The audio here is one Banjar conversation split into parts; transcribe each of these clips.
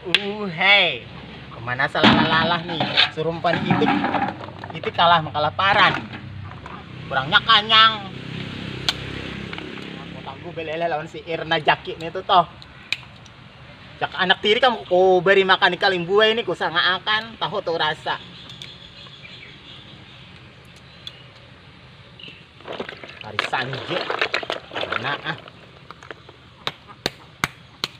Uh, hei. Kemana salah-lalah nih? Surumpan itu itu kalah makalah paran. Kurangnya kanyang. Aku tanggu belele lawan si Irna Jaki nih tuh toh. Jak anak tiri kamu ku beri makan ikan limbu ini ku sanga akan tahu tuh rasa. Hari sanjir. Nah, ah.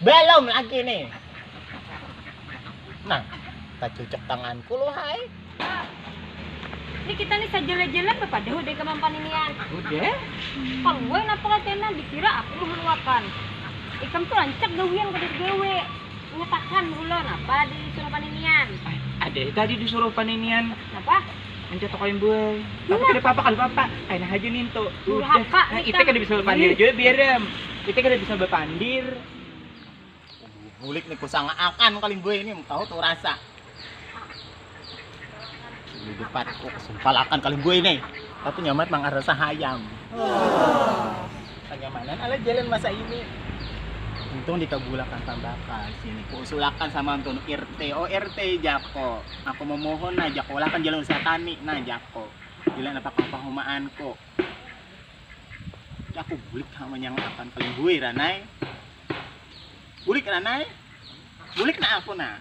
Belum lagi nih. Nah, kacucek tanganku lu hai. Ini kita nih sajela-jela bapak deh udah kemampan ini ya. Udah. Kalau gue napa katanya dikira aku mengeluarkan. Ikam tuh rancak gawian kada digawe. Mengatakan hula napa di suruh paninian. Ada tadi disuruh paninian. Napa? Anca tokoy mbuai. Tapi kada papa kada papa, kena haja nintu. Udah, nah ite kada bisa bapandir jua biar am. Ite kada bisa bapandir. Bulik nih kusanga akan kali mbuai nih tahu tuh rasa. Di depan oh, sumpal akan kali mbuai nih. Tapi nyaman mang rasa hayam. Oh. Kenyamanan ala jalan masa ini. Untung dikabulakan tambakan sini. Kuusulakan sama antun RT. Oh RT Jako. Aku mamohon nah jako ulah akan jalan usaha kami nah jako bila napa kapahumaan ko jako bulik ha manyanga akan kalimbuy ranai bulik ranai bulik nah aku nah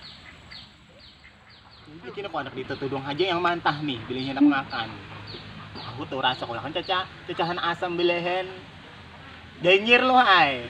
Bulik ini kok anak dita tudung haja yang mantah nih bila hendak makan. Aku tuh rasa kalau kan caca cacahan asam bilehen danyir loh ay.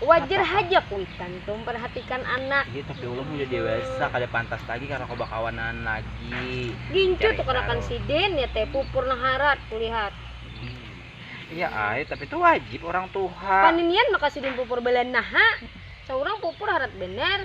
Wajar haja kuitan tu memperhatikan anak. Iya tapi ulun udah dewasa kada pantas lagi karena kau bakawanan lagi. Gincu tu kanakan sidin ya teh pupur nang harat kulihat. Iya ai tapi tu wajib orang tuha. Paninian maka sidin pupur balanah ha. Saurang pupur harat banar.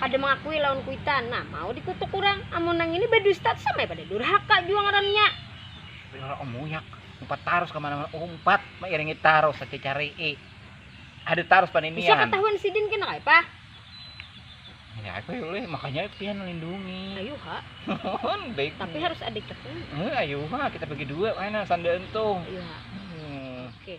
kada mangakui lawan kuitan nah mau dikutuk urang amun nang ini badusta tu samai pada durhaka jua ngarannya. Pilor om muyak umpat tarus ka mana mana umpat mairingi tarus saja carii ada tarus paninian bisa ketahuan sidin kena kai pa ya apa ya uleh makanya pian lindungi ayo ha tapi harus ada cekung eh, ayo ha kita bagi dua mana sandal entung ayo ha hmm. oke okay.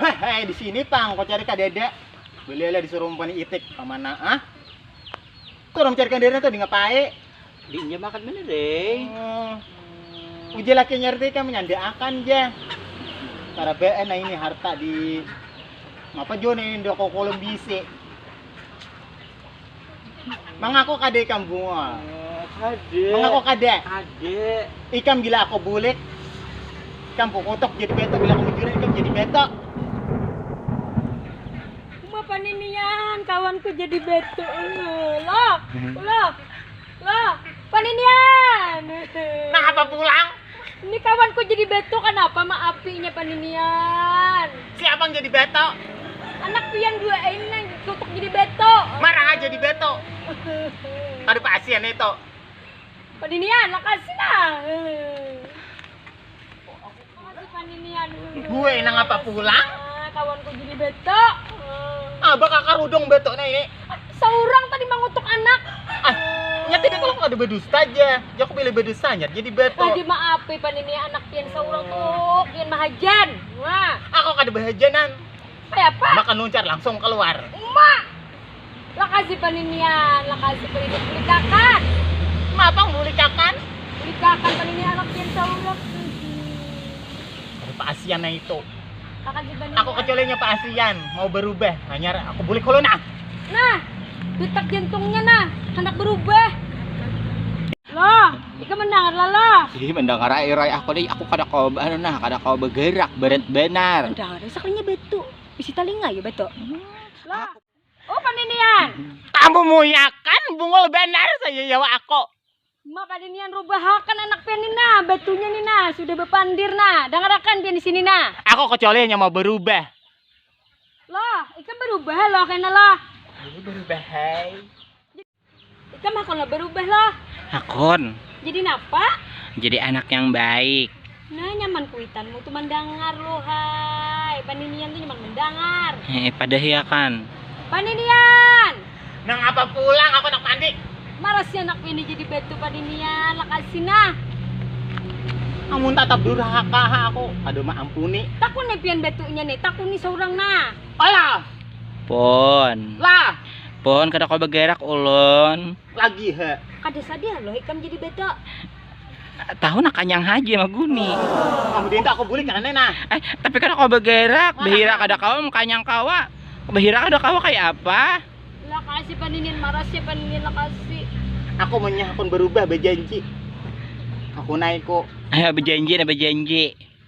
Hehe, di sini tang, kau cari kadada. Belilah disuruh mempani itik, kemana ah? Kau orang cari kadada tuh di ngapai? Di inja makan bener eh. Hmm. Uji laki nyari tadi kan menyanda akan ja. Cara BN nah ini harta di apa jo nih ini udah kau kolom bisi. Mengaku kada ikam bungul. Kade. Mengaku kada. Kade. Ikam bila aku bulik, ikam kukutuk jadi betok. Bila aku mencuri, ikam jadi betok. Uma paninian kawanku jadi betok. Ulah, ulah. Lah, pan ini an. Nah, apa pulang? Ini kawanku jadi beto kanapa maapinya pan ini an. Siapa yang jadi beto? Anak pian dua ini yang tutuk jadi beto. Marah aja di beto. Kada pasian itu. Pan ini an, makasih nah. Gue nang apa pulang? Ah, kawan ku jadi beto. Ah, bakal karudung beto nah ini. Seorang tadi mengutuk anak. Ah, nyata dia kalau ada berdusta aja. Ya aku pilih berdustanya jadi beto. Lagi maafi pan ini anak pian seorang tuh, pian mahajan. Wah. Aku ah, kada berhajanan. Kayak apa? Makan luncar langsung keluar. Ma. Lakasi paninian, lakasi paninik bulikakan. Ma pang bulikakan? Bulikakan panini anak pian saurang tuh. Ada pa asian nah itu. Lakasi paninian. Aku kecualinya pa asian, mau berubah. Hanyar aku bulik hulu nah. Nah, detak jantungnya nah handak berubah. Loh, ikam mendangar lah loh. Ih, mendengar ai Roy aku deh, aku kada kawa anu nah, kada kawa bergerak, berat benar. Mendangar, sakalinya batu, bisi talinga ya batu. Loh. Upan inian. Kamu muyakan bungul banar saja ya wak aku. Maka dinian rubahakan anak pian ni nah, batunya ni nah, sudah bapandir nah, dangarakan pian di sini nah. Aku kacuali hanya mau barubah. Loh, ikam barubah loh kena loh. Ini barubah hai. Ikam hakun lah berubah lah. Hakun. Jadi napa? Jadi anak yang baik. Nah nyaman kuitanmu tu mandangar lo hai. Paninian tu nyaman mendangar. Eh, padah ya kan. Paninian. Nang apa pulang aku nak mandi. Marasnya anak ini jadi batu paninian lakasi nah. Amun tatap durhaka ha aku kada ma ampuni. Takun ni pian batunya ni, takuni seorang nah. Alah. Pun. Lah. Pon kada kau begerak ulun. Lagi ha. Kada sadar loh ikam jadi beda. Tahu nak kanyang haji sama guni. Kamu dinta aku bulik karena nah. Eh, tapi kada kau begerak, behira kada kau, kanyang kawa. Behira kada kau kayak apa? Lakasi paninin marasi paninin lakasi. Aku menyah pun berubah berjanji. Aku naik kok. Eh, berjanji nah berjanji.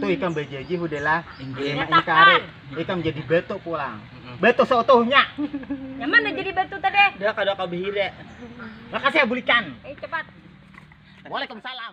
Tuh ikam bejeji hudelah lima ini kari. Ikam jadi batu pulang. Batu seutuhnya. Yang mana jadi batu tadi? Dia kada kau behire. Makasih ya bulikan. Eh cepat. Waalaikumsalam.